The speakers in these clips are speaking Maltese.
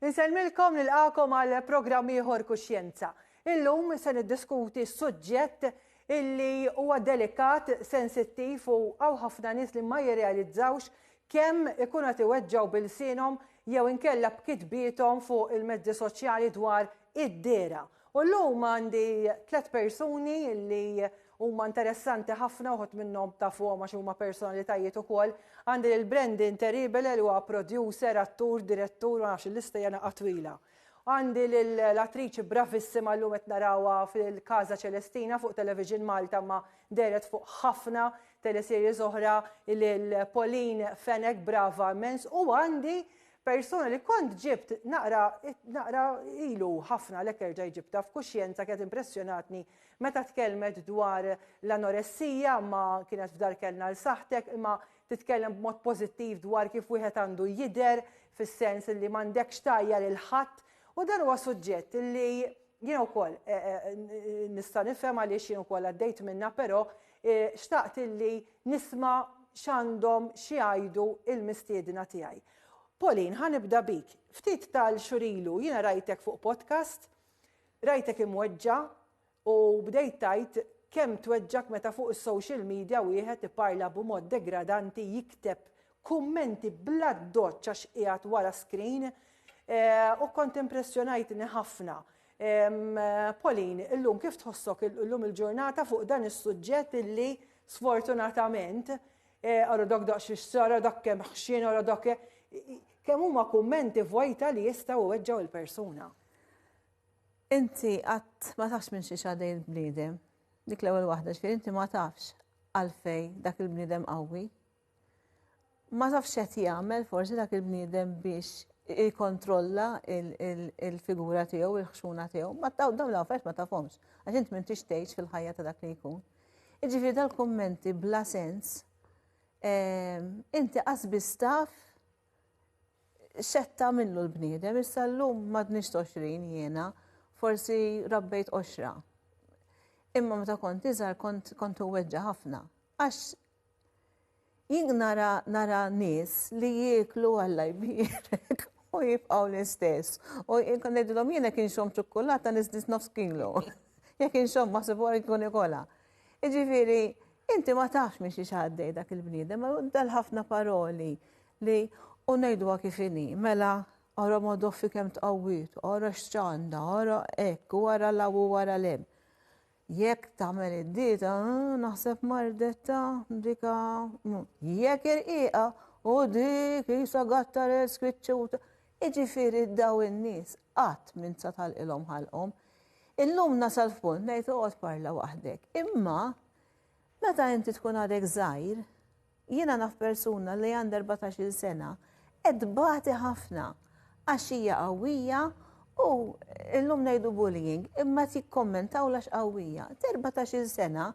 Insellmilkom nilqakom għal programm ieħor Kuxjenza. Illum se niddiskuti suġġett illi huwa delikat, sensittiv u għaw ħafna nies li ma jirrealizzawx kemm ikun qed iweġġgħu bilsinhom jew inkella b'kitbietom fuq il-mezzi soċjali dwar id-dera U llum għandi tliet persuni li huma interessanti ħafna, uħud minnhom tafuhom għax huma personalitajiet ukoll. Għandi lil Brendin Teribele li huwa producer, attur, direttur, ma nafx il-lista hija naqgħa twila. Għandi lil l-attriċi bravissima llum qed narawha fil-Casa Celestina fuq Television Malta imma dehret fuq ħafna teleseries oħra lil Pauline Fenech brava immens u għandi Persuna li kont ġibt naqra naqra ilu ħafna lek erġa' jġibta f'kuxjenza kienet impressjonatni meta tkellmet dwar l-anoressija ma kienet f'dar kellna l saħtek imma titkellem b'mod pożittiv dwar kif wieħed għandu jidher fis-sens li m'għandekx tajja lil ħadd u dan huwa suġġett li jiena wkoll nista' nifhem għaliex jien ukoll għaddejt minnha però Xtaqt illi nisma' x'għandhom xi jgħidu l-mistiedna tiegħi. Pauline, ħa nibda bik. Ftit tal-xhur ilu jiena rajtek fuq podcast, rajtek imweġġa' u bdejt tgħid kemm tweġġgħek meta fuq is-social media wieħed iparla b'mod degradanti, jikteb kummenti bla ddoċċ għax qiegħed wara screen u kont impressjonajtni ħafna. Pauline, illum kif tħossok illum il-ġurnata fuq dan is-suġġett illi sfortunatament għara dak daqx ix-xara dak kemm ħxien għara dak kemm huma kummenti vojta li jistgħu weġġgħu il-persuna. Inti qatt ma tafx minn xi xadej il-bniedem. Dik l-ewwel waħda ġifieri inti ma tafx għalfej dak il-bniedem qawwi. Ma tafx qed jagħmel forsi dak il-bniedem biex jikkontrolla il-figura tiegħu, il-ħxuna tiegħu. Ma dawn l-affarijiet ma tafhomx, għax int m'intix tgħix fil-ħajja ta' dak li jkun. Iġifieri dal-kummenti bla sens, ehm, inti qasbis taf xetta minnu l-bniedem, issa llum m'għadniex 20 jiena, forsi rabbejt 20. Imma meta kont iżgħar kont weġġa' ħafna. Għax jien nara nara nies li jieklu Alla jbierek u jibqgħu l-istess. U jien kont ngħidilhom jien jekk inxomm ċukkulata niżdiż nofs kilu. Jekk inxomm ma' sibor inkun ikolha. Jiġifieri inti ma tafx minn xiex għaddej dak il-bniedem, dal-ħafna paroli li u ngħiduha kif inhi, mela ara Madoffi kemm tqawwiet, ara x'għandha, ara hekk u ara 'l hawn u ara 'l hemm. Jekk tagħmel id-dieta, naħseb mardetta, dika, jekk irqiqa, u dik jisa gattar il-skwitċuta. Iġifiri daw in-nies qatt minn sa tal-ilhom ħalqhom. Illum nasal f'punt ngħid oqgħod parla waħdek. Imma Meta inti tkun għadek żgħir, jiena naf persuna li għandha erbatax-il sena qed tbati ħafna għax hija qawwija u illum ngħidu bullying imma qed jikkommentaw għax qawwija. T'erbatax-il sena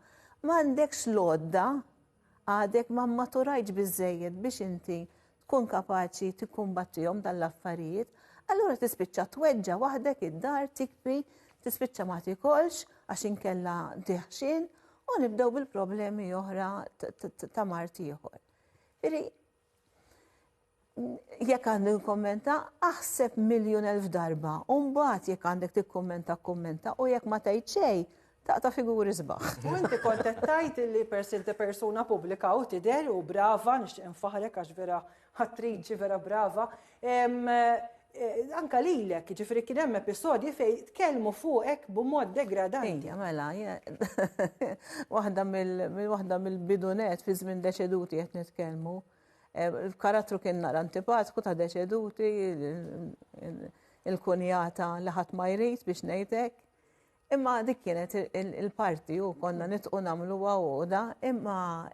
m'għandekx l-għodda, għadek ma mmaturajtx biżżejjed biex inti tkun kapaċi tikkumbattihom dan l-affarijiet, allura tispiċċa tweġġa' waħdek id-dar tikbi, tispiċċa ma tikolx għax inkella diħxin u nibdew bil-problemi oħra ta' mart ieħor. Iri, jekk għandu kommenta, aħseb miljon elf darba, u mbagħad jekk għandek tikkommenta kommenta u jekk ma tgħid xejn, Taqta' figuri sbaħ. U inti kont qed tgħid li peress li inti persuna pubblika u tidher u brava, nixtieq infaħħrek għax vera attriċi vera brava. Eh, anka lilek, ġifri kien hemm episodji fej tkellmu fuqek b'mod degradanti. Ejja, mela, waħda mill-waħda mill-bidunet fi żmien deċeduti qed nitkellmu. Eh, il-karattru kien nara antipatku ta' deċeduti, il-kunjata li ħadd ma jrid biex ngħidek. Imma dik kienet il-parti u konna nitqu namlu għoda, imma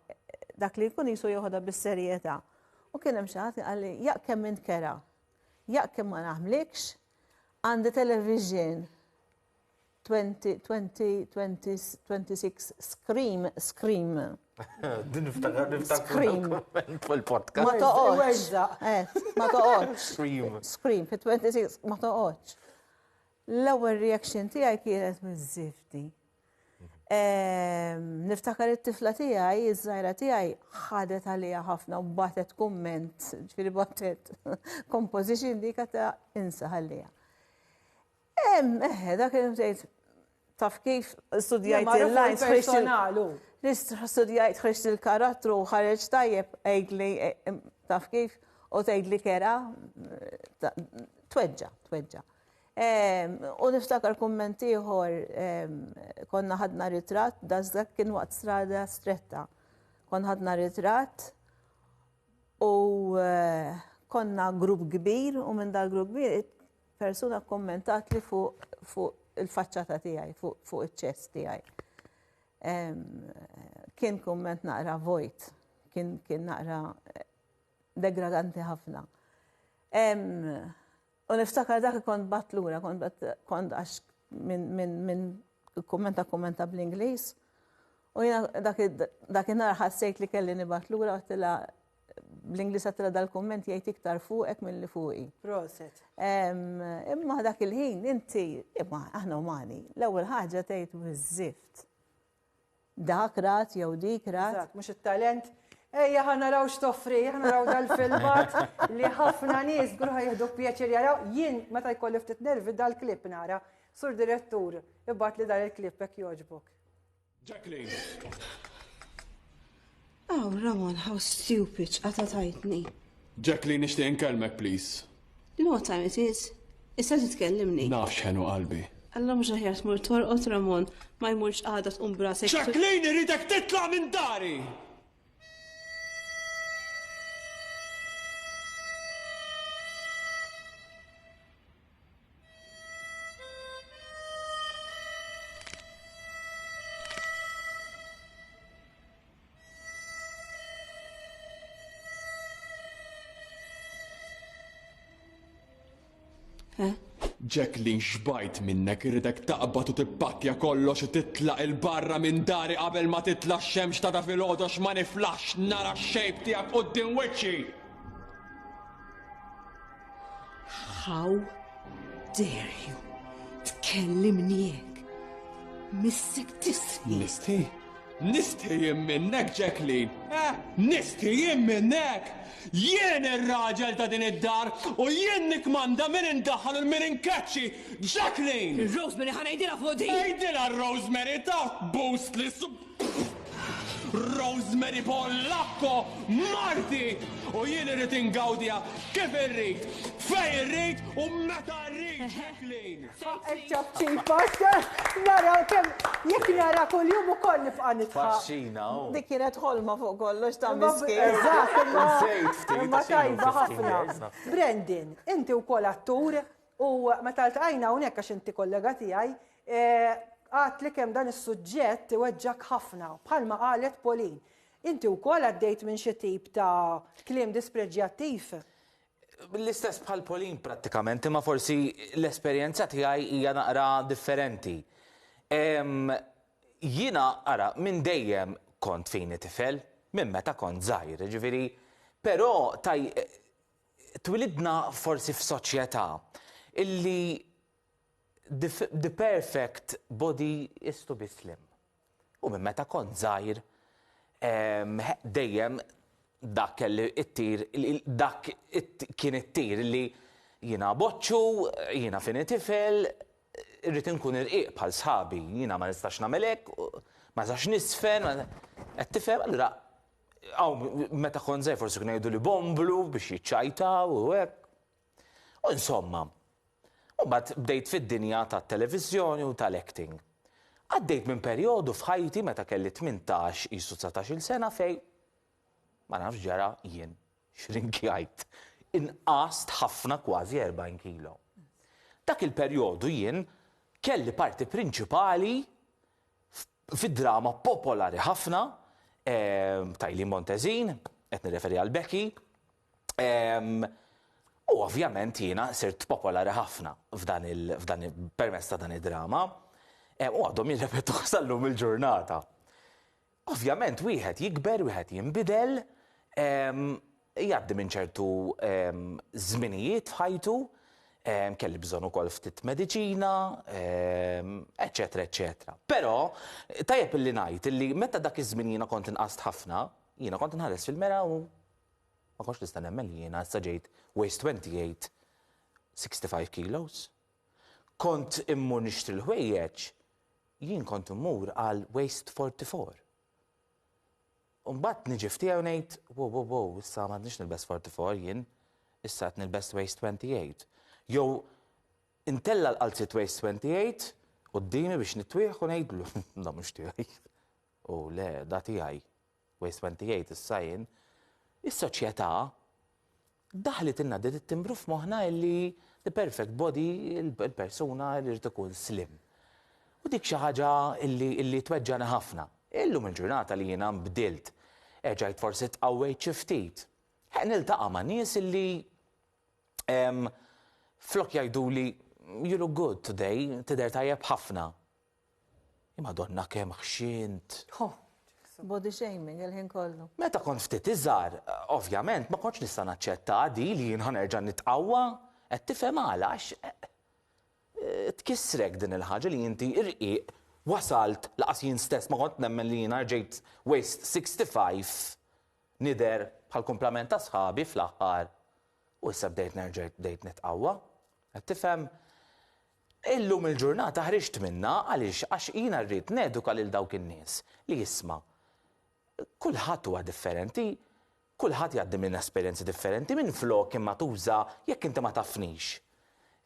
dak li jkun jisu joħda bis-serjeta. U kien hemm xaħat għalli, jaq kemm int kera, jaq kemm ma naħmlikx, għandi television 26 scream, scream. Din niftakar, niftakar. Ma toqgħodx. Eh, ma toqgħodx. Scream. Scream, fit 26, ma toqgħodx. L-ewwel reaction tiegħi kienet miż-żifti. Ehm, niftakar it-tifla tiegħi, iż-żgħira tiegħi ħadet għalija ħafna u batet kumment, ġifieri batet composition dik ta' insa ħallija. Ehm, eħe, dak li mtejt taf kif studjajt il-lines personalu. Studjajt ħriġt il-karattru u ħareġ tajjeb għidli eh, taf kif u tgħidli kera eh, tweġġa, tweġġa. U niftakar kumment ieħor konna ħadna ritratt, dażdak kien waqt strada stretta. Kon ħadna ritratt u eh, konna grupp kbir u minn dal grupp kbir persuna kommentat li fuq fu il-faċċata tiegħi, fuq fu iċ-ċess tiegħi. Kien kumment naqra vojt, kien, kien naqra eh, degradanti ħafna. U niftakar dak kont bat lura, kont bat kont għax minn kummenta kummenta bl-Ingliż. U jina dak nar ħassejt li kelli nibat lura għattila bl-Ingliż għattila dal-kumment jgħid iktar fuqek minn li fuqi. Proset. Imma dak il-ħin inti, imma aħna umani, l-ewwel ħaġa tgħid biżżift. Dak rat jew dik rat. Eżatt, mhux it-talent. Ejja ħa naraw x'toffri, ħa naraw dal-filmat li ħafna nies żgur ħa jieħdu pjaċir jaraw. Jien meta jkolli ftit nervi dal-klipp nara. Sur direttur, ibgħat li dan il-klipp hekk jogħġbok. Jacqueline. Oh, Ramon, how stupid, għata tajtni. Jack li nishti inkelmek, please. You know what time it is? Issa titkellimni. Naf xenu qalbi. Alla mhux aħjar tmur torqod Ramon, ma jmurx għada tqum brasek. Jacqueline iridek titla' minn dari! Jack li nxbajt minnek irridek taqbad u tippakja kollox u titlaq il-barra minn dari qabel ma titla xemx ta' da fil-ħodox ma niflax nara xejb tijak u d-din wiċċi! How dare you tkellimni hekk? Missek tisħi. Nisti? Nisti jien minnek, Jacqueline? Eh, nisti jien minnek? Jien ir-raġel ta' din id-dar u jien nikmanda min indaħal u min inkaċċi, Jacqueline! Rosemary ħanajdila fuq din! Ejdila Rosemary ta' boost li sub. Rosemary Pollakko marti u jien irrid ingawdija kif irrid, fej irrid u meta rrid ġeklin. Eċċab ċipos, naraw kem jek nara kol jum u kol nifqa nitfa. Faxxina. Dik kienet ħolma fuq kollox ta' miski. Eżatt, imma tajba ħafna. Brandon, inti u kol attur, U meta ltqajna hawnhekk għax inti kollega tiegħi, għadtli kemm dan is-suġġett iweġġak ħafna, bħalma qalet Pauline. Inti wkoll għaddejt minn xi tip ta' kliem dispreġġjattiv? L-istess bħal Pauline prattikament, imma forsi l-esperjenza tiegħi hija naqra differenti. Jiena ara minn dejjem kont fini tifel, minn meta kont żgħir, jiġifieri, però Twilidna forsi f'soċjetà illi the, the perfect body is to be slim. U minn meta kont żgħir ehm, dejjem dak kelli it-tir, dak kien it-tir li jina boċċu, jina fini tifel, rrit nkun irqiq bħal sħabi, jina ma nistax namelek, ma nistax nisfen, qed tifhem, allura Hawn meta kont żgħir forsi kien jgħidu li bomblu biex jiċċajtaw u hekk. U insomma, mbagħad bdejt fid-dinja tat-televiżjoni u tal-acting. Għaddejt minn perjodu f'ħajti meta kelli 18 qisu 19-il sena fej ma nafx ġara jien xrinkjajt. Inqast ħafna kważi 40 kilo. Dak il-perjodu jien kelli parti prinċipali Fi drama popolari ħafna ta' Eileen Montezin, qed nirreferi għal Becky, u ovvjament jiena sirt popolari ħafna permezz ta' dan id-drama, u għadhom jirrepetuha sal-lum il-ġurnata. Ovvjament wieħed jikber, wieħed jinbidel, Jgħaddi minn ċertu żminijiet f'ħajtu, kelli bżonn ukoll ftit mediċina, eċċetera eċċetera. Però tajjeb illi ngħid illi meta dak iż-żmien jiena kont inqast ħafna, jiena kont inħares fil-mera u ma kontx nista' nemmen li jiena issa ġejt waist twenty eight, sixty five kilos. Kont immur nixtri l-ħwejjeġ, jien kont immur għal waist forty four. U mbagħad niġi f'tiegħi u ngħid, wow, wow, wow, issa ma għadniex nilbes 44 jien, issa qed nilbes waist 28. Jew intella l-qalziet waist 28 qudiemi biex nitwieħ u ngħidlu, da mhux tiegħi. U le, da tiegħi. Waist 28 issa jien. Is-soċjetà Daħlitilna din it-timbru f'moħħna illi the perfect body, il-persuna irid ikun slim. U dik xi ħaġa illi tweġġagħni ħafna. Illum il-ġurnata li jiena nbdilt, erġajt forsi tqawwejt xi ftit, ħeqq niltaqa' ma' nies illi flok jgħiduli you look good today, tidher tajjeb ħafna, Madonna kemm ħxint. Ho, body shaming il-ħin kollu. Meta kont ftit iżgħar, ovvjament ma kontx nista' naċċetta di li jien ħanerġa' nitqawwa. Qed tifhem għala għax eh, tkissrek din il-ħaġa li inti irqiq wasalt laqas jien stess ma kont nemmen li jiena rġejt waist 65 nider bħal kumplament ta' sħabi fl-aħħar. U issa bdejt nerġa' bdejt nitqawwa. Qed tifhem? Illum il-ġurnata ħriġt minnha għaliex għax jiena rrid neduka lil dawk in-nies li isma' kulħadd huwa differenti, kulħadd jgħaddi minn esperjenzi differenti, minflok imma tuża jekk inti ma tafnix.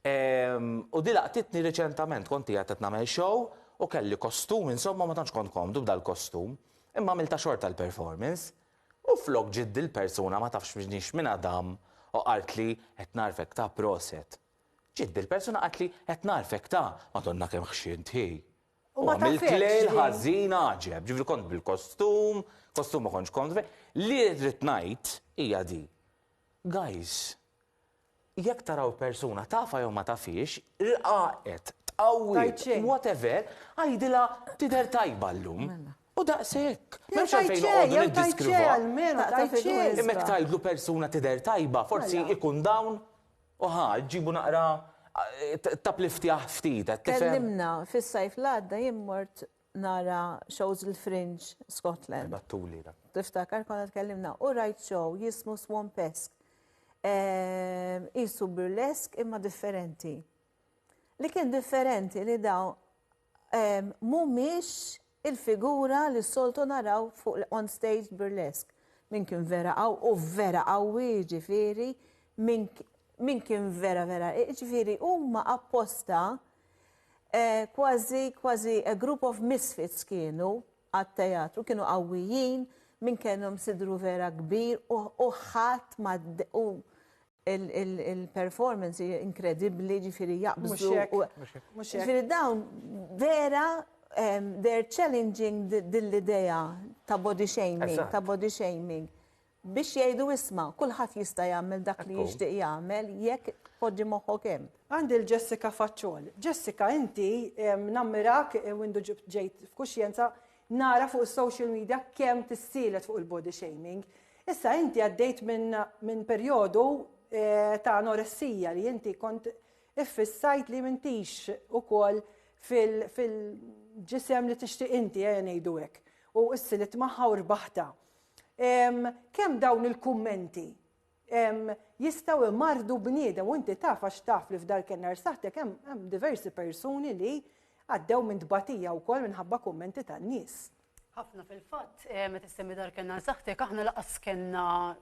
Ehm, u di laqtitni riċentament, kont qiegħed qed nagħmel show u kelli kostum insomma ma tantx kont komdu b'dal-kostum, imma għamiltha xorta l-performance. U flok ġiet dil-persuna ma tafx minix minn Adam u qaltli qed nagħrfek ta' proset. Ġiet bil-persuna qaltli qed nagħrfek ta', Madonna kemm ħxint hi. U għamilt lejl ħażin għaġeb, ġifieri kont bil-kostum, kostum ma kontx kont Li rrid ngħid hija di. Guys, jekk taraw persuna tafha jew ma tafhiex, rqaqet, tqawwiet, whatever, għidilha tidher tajba llum. Mela. U daqshekk. M'hemmx għalfejn noqogħdu niddiskrivha. Imma jekk tgħidlu persuna tidher tajba, forsi ikun dawn U ħa, ġġibu naqra tappliftjah ftit, qed tifhem? Kellimna, fis-sajf l-għadda jien mort nara shows il-Fringe Scotland. Ibattuli dak. Tiftakar konna tkellimna u rajt show jismu Swampesk. Qisu burlesk imma differenti. Li kien differenti li dawn mhumiex il-figura li s-soltu naraw fuq l-on stage burlesque. Min kien vera qaww u vera qawwi jiġifieri min kien vera vera jiġifieri huma apposta kważi kważi a group of misfits kienu għat-teatru kienu qawwijin min kellhom sidru vera kbir u ħadd ma Il-performance hija inkredibbli, ġifieri jaqbżu. Ġifieri dawn vera they're challenging dil-idea ta' body shaming, ta' body shaming. Biex jgħidu isma, kulħadd jista' jagħmel dak li jixtieq jagħmel jekk tpoġġi moħħok hemm. Għandi l-Jessica Faċċol. Jessica inti nammirak u indu ġejt f'kuxjenza Nara fuq is-social media kemm tissielet fuq il-body shaming. Issa inti għaddejt minn min perjodu eh, ta' anoressija li inti kont iffissajt li mintix ukoll fil-ġisem li tixtieq inti eh, ngħidu hekk. U issilit magħha u rbaħta. Kemm dawn il-kummenti jistgħu jmarrdu bniedem u inti taf għax taf li f'Dar Kennar Saħħtek hemm diversi persuni li għaddew minn tbatija wkoll minħabba kummenti tan-nies. Ħafna fil-fatt, eh, meta semmi Dar Kennar Saħħtek aħna laqas kellna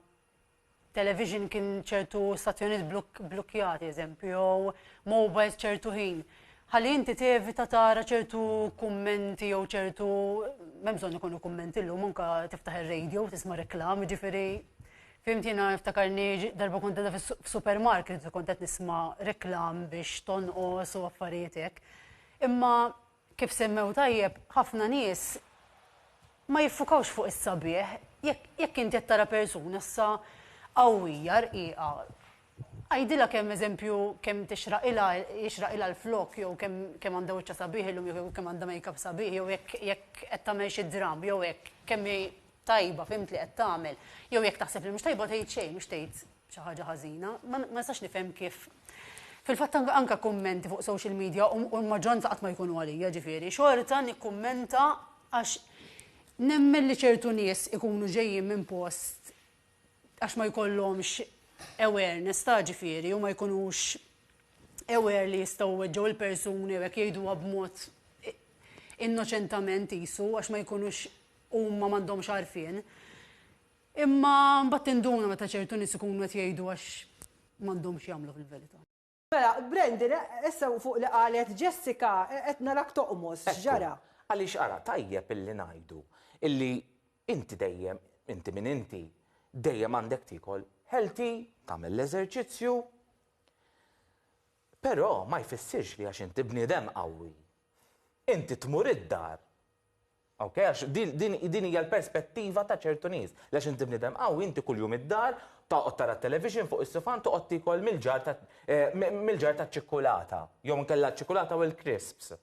television kien ċertu stazzjoniet blokkjati eżempju, jew mobiles ċertu ħin. Ħalli inti tevita tara ċertu kummenti jew ċertu, memżon ikunu kummenti l-lum, unka tiftaħ il-radio, tisma reklam, ġifiri Fimt jiena niftakar li darba kont qegħda f'supermarket u kont qed nisma' reklam biex tonqos u affarijiet hekk. Imma kif semmew tajjeb, ħafna nies ma jiffukawx fuq is-sabiħ. Jekk inti qed tara persuna issa qawwija rqiqa, għidilha kemm eżempju kemm tixraqilha jixraqilha l-flokk jew kemm għandha wiċċha sabiħ illum jew kemm għandha make-up sabiħ jew jekk qed tagħmel xi dramm jew hekk kemm hi tajba, fhimt li qed tagħmel. Jew jekk taħseb li mhux tajba tgħid xejn, mhux tgħid xi ħaġa ħażina. Ma nistax nifhem kif Fil-fatt anka kummenti fuq social media u l-maġġoranza qatt ma jkunu għalija ġifieri, xorta nikkummenta għax nemmen li ċertu nies ikunu ġejjin minn post għax ma jkollhomx awareness ta' ġifieri u ma jkunux aware li jistgħu weġġgħu l-persuni u jekk jgħiduha b'mod innoċentament jisu għax ma jkunux huma m'għandhomx għarfien. Imma mbagħad tinduna meta ċertu nies ikunu qed jgħidu għax m'għandhomx jagħmlu fil-verità. Mela, Brandon, issa fuq li qalet Jessica, qed narak toqmos, x'ġara? Għaliex ara, tajjeb illi ngħidu illi inti dejjem, inti min inti, dejjem għandek tiekol healthy, tagħmel l-eżerċizzju, però ma jfissirx li għax inti bniedem qawwi, inti tmur id-dar Ok, għax din hija l-perspettiva ta' ċertu nies. Għax inti bniedem qawwi, inti kuljum id-dar, toqgħod tara t-television fuq is-sufan, toqgħod tiekol mill-ġar taċ-ċikkulata, jew inkella ċ-ċikkulata u l-crisps.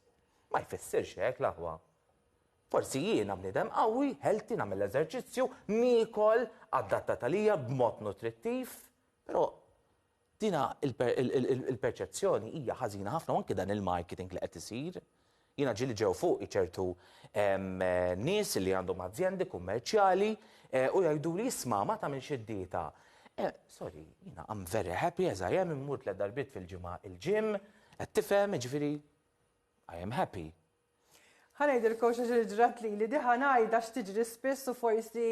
Ma jfissirx hekk, l-aħwa. Forsi jiena bniedem qawwi, healthy, nagħmel l-eżerċizzju, niekol adattat għalija b'mod nutrittiv, però Din il-perċezzjoni hija ħażina ħafna u anke dan il-marketing li qed isir. Jiena ġieli ġew fuqi ċertu nies li għandhom azjendi kummerċjali u jgħiduli isma' ma tagħmilx id-dieta. Sorry, jiena I'm very happy as I am, immur tliet darbiet fil-ġimgħa il-gym, qed tifhem, jiġifieri I am happy. Ħa ngħidilkomx għax li ġrat lili, di ħa ngħid għax tiġri spiss u forsi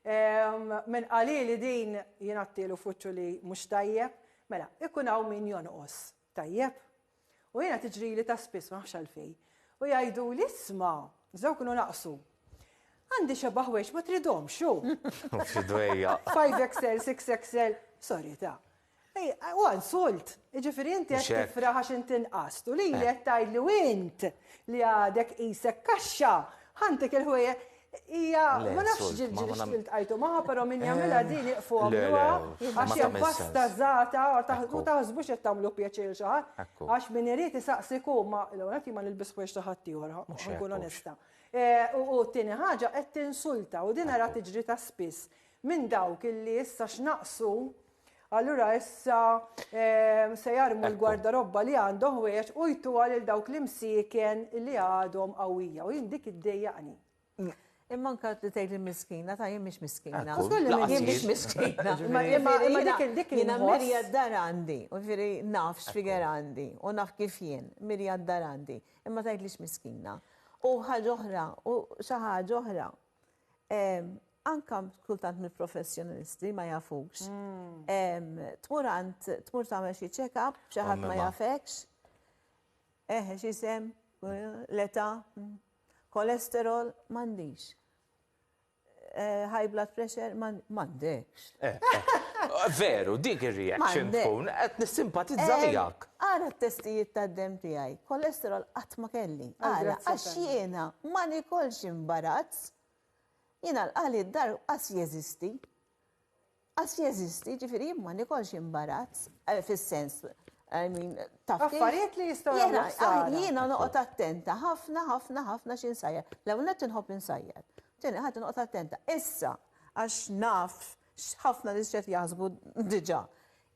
min qalili din jien għadtielu f'wiċċu li mhux tajjeb, mela ikun hawn min jonqos, tajjeb? U jiena tiġrili ta' spiss ma nafx għalfejn. U jgħiduli isma', żewġ kienu naqsu. Għandi xeba' ħwejġ ma tridhomx hu. Xi dwejjaq. 5XL, 6XL, sorry ta'. Huwa insult. Jiġifieri inti qed tifraħ għax inti inqast u lili qed tgħidli u int li għadek qisek kaxxa ħantik il-ħwejjeġ. Hija ma nafx ġilġili x'iltqajtu magħha però min jagħmilha din iqfu għamluha għax hija basta żgħata u taħsbux qed tagħmlu pjaċir xi ħadd għax min irid isaqsik hu ma l-ewwel nett jien ma nilbis ħwejjeġ ta' ħaddieħor ħankun onesta. U t-tieni ħaġa qed tinsulta u din ara tiġri ta' spiss minn dawk illi issa x'naqsu Allura issa ehm, se jarmu l-gwardarobba li għandhom ħwejjeġ u jtu għal dawk l-imsiken li għadhom qawwija u jien dik iddejjaqni. Mm. Imma anka li tgħid li miskina, ta' jien mhix miskina. Jien mhix miskina. Imma dik dik jiena mirja d-dar għandi, u ġifieri naf x'figer għandi u naf kif jien, mirja d-dar għandi, imma tgħid li miskina. U ħaġa oħra, u xi ħaġa oħra, Anka kultant mill-professjonalisti ma jafux. Hmm. Tmur għand, tmur tagħmel xi check-up, xi ħadd ma jafekx. Eħe, xi sem, l-età, hmm. kolesterol, m'għandix. Eh, high blood pressure, m'għandek. Veru, dik ir-reaction tkun qed nissimpatizza miegħek. Ara t-testijiet tad-demm tiegħi, kolesterol qatt ma kelli. Ara, għax jiena ma nikolx imbarazz. Jiena l-qali d-dar qas jeżisti. Qas jeżisti, ġifieri jien ma nikolx imbarazz fis-sens I mean, taf. Affarijiet li jistgħu jagħmlu. Jiena noqgħod attenta ħafna ħafna ħafna x'insajjar. L-ewwel nett inħobb insajjar. Tieni ħadd inqgħod attenta. Issa, Għax naf x'ħafna nies x'qed jaħsbu diġà.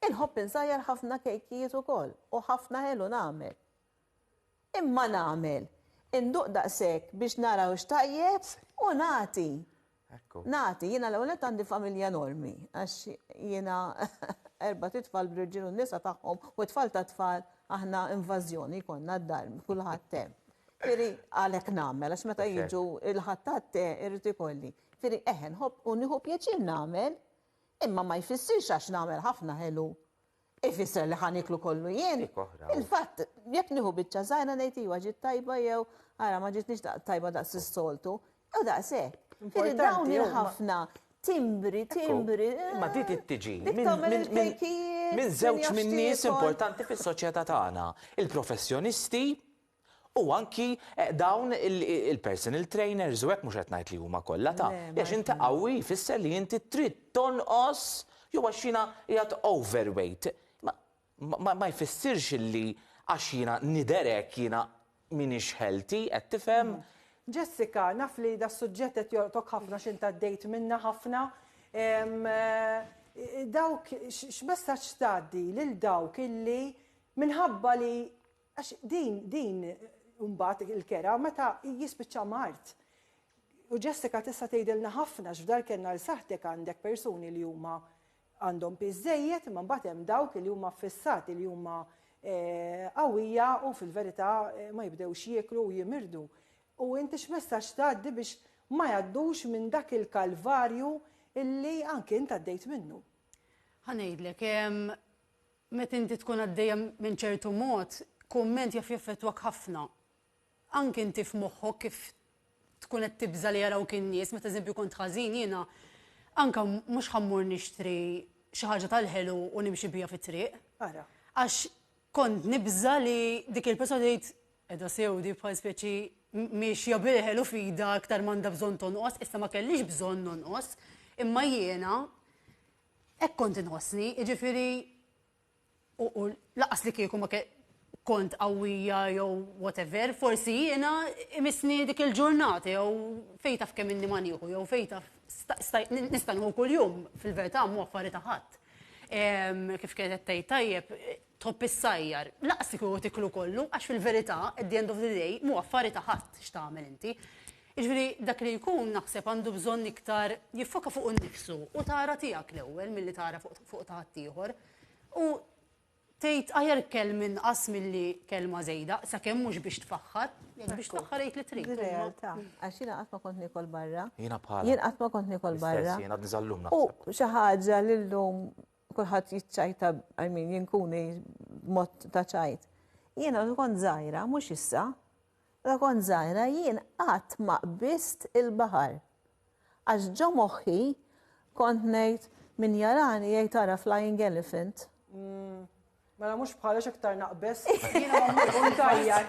Inħobb insajjar ħafna kejkijiet ukoll u ħafna ħelu nagħmel. Imma nagħmel, induq daqshekk biex nara hux tajjeb u nagħti. Nagħti, jiena l-ewwel nett għandi familja enormi għax jiena erbat itfal bl-irġiel u n-nisa tagħhom u t-tfal tat-tfal aħna invażjoni jkollna d-dar kulħadd hemm. Ġifieri għalhekk nagħmel għax meta jiġu l-ħadd għat-te irrid ikolli. Jiġifieri eħe nħobb u nieħu pjaċir nagħmel, imma ma jfissirx għax nagħmel ħafna ħelu ifisser li ħa nieklu kollu jien. Il-fatt jekk nieħu biċċa żgħira ngħid iva ġiet tajba jew ara ma ġietniex tajba daqs is-soltu, jew daqs hekk. Jiġifieri dawn il-ħafna timbri, timbri. Ma di tittiġi minn żewġ min-nies importanti fis-soċjetà tagħna. Il-professjonisti U anki dawn il-personal trainers u hekk mhux qed ngħid li huma kollha ta' għax inti qawwi jfisser li inti trid tonqos jew għax jiena qiegħed overweight. Ma jfissirx illi għax jiena nidher hekk jiena m'iniex healthy, qed tifhem? Jessica, naf li das-suġġett qed jolqtok ħafna għax int għaddejt minnha ħafna. Dawk x'messaġġ tgħaddi lil dawk illi minħabba li Għax din, din mbagħad il-kera meta jispiċċa mard. U Jessica tista' tgħidilna ħafna x'f'dar kellna l saħħtek għandek persuni li huma għandhom piż żejjed imma mbagħad hemm dawk li huma ffissati li huma eh, qawwija u fil-verità eh, ma jibdewx jieklu u jimirdu. U inti x'messaġġ tgħaddi biex ma jgħaddux minn dak il-kalvarju illi anki int għaddejt minnu. Ħanejdlek, Meta inti tkun għaddejja minn ċertu mod, kumment jaf jaffettwak ħafna. Anke inti f'moħħok kif tkun qed tibża' li jarawk in-nies, meta eżempju kont ħażin jiena anke mhux ħa mmur nixtri xi ħaġa tal-ħelu u nimxi biha fit-triq. Ara. Għax kont nibża' li dik il-persuna tgħid qiegħda sew di bħal speċi miexja bil-ħelu f'idha aktar m'għandha bżonn tonqos, issa ma kellix bżonn nonqos, imma jiena Hekk kont inħossni, jiġifieri u lanqas li kieku ma kont qawwija jew whatever, forsi jiena imissni dik il-ġurnata jew fejn taf kemm inni ma nieħu jew fejn taf nista' nieħu kuljum fil-verità mhu affari ta' ħadd. Kif kienet qed tgħid tajjeb, Tħobb issajjar, laqas li kieku tiklu kollu għax fil-verità at the end of the day m'hu affari ta' ħadd x'tagħmel inti. Jiġifieri dak li jkun naħseb għandu bżonn iktar jiffoka fuqu nnifsu u tara tiegħek l-ewwel milli tara fuq ta' ħaddieħor. U tgħid aħjar kelm inqas milli kelma żejda, sakemm mhux biex tfaħħar, jekk biex tfaħħar għid li trid. Din realtà, għax jiena qatt ma kont niekol barra. Jiena bħalek. Jien qatt ma kont niekol barra. L-istess jien għadni sal-lum naħseb. U xi ħaġa li llum kulħadd jiċċajta, I mean, jinkuni mod ta' ċajt. Jiena meta kont żgħira, mhux issa, meta kont żgħira jien qatt ma qbist il-baħar. Għax ġo moħħi kont ngħid min jarani jgħid ara flying elephant. Mm. Mela mhux bħala x'iktar naqbes. Jiena nagħmel volontarja.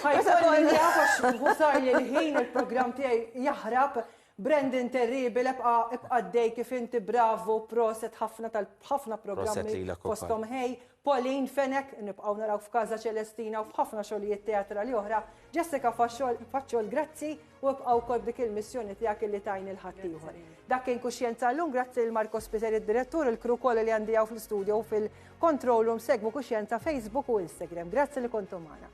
Ħajkolli nafx volontarja l-ħin il-programm tiegħi jaħrab. Brandon Terribil, ebqa ibqa dej kif inti bravo, proset ħafna tal-ħafna programmi fostom ħej. Pauline Fenek, nibqaw naraw f'Kaza Celestina u f'ħafna xogħlijiet teatrali oħra. Jessica Faċċol, grazzi. U ibqa' wkoll b'dik il-missjoni tiegħek illi tgħin lil ħaddieħor. Dak kien Kuxjenza llum, grazzi lil Marco Spiteri d-Direttur, il-crew kollha li għandi hawn fl-istudio u fil-control room segwu Kuxjenza Facebook u Instagram. Grazzi li kontu magħna.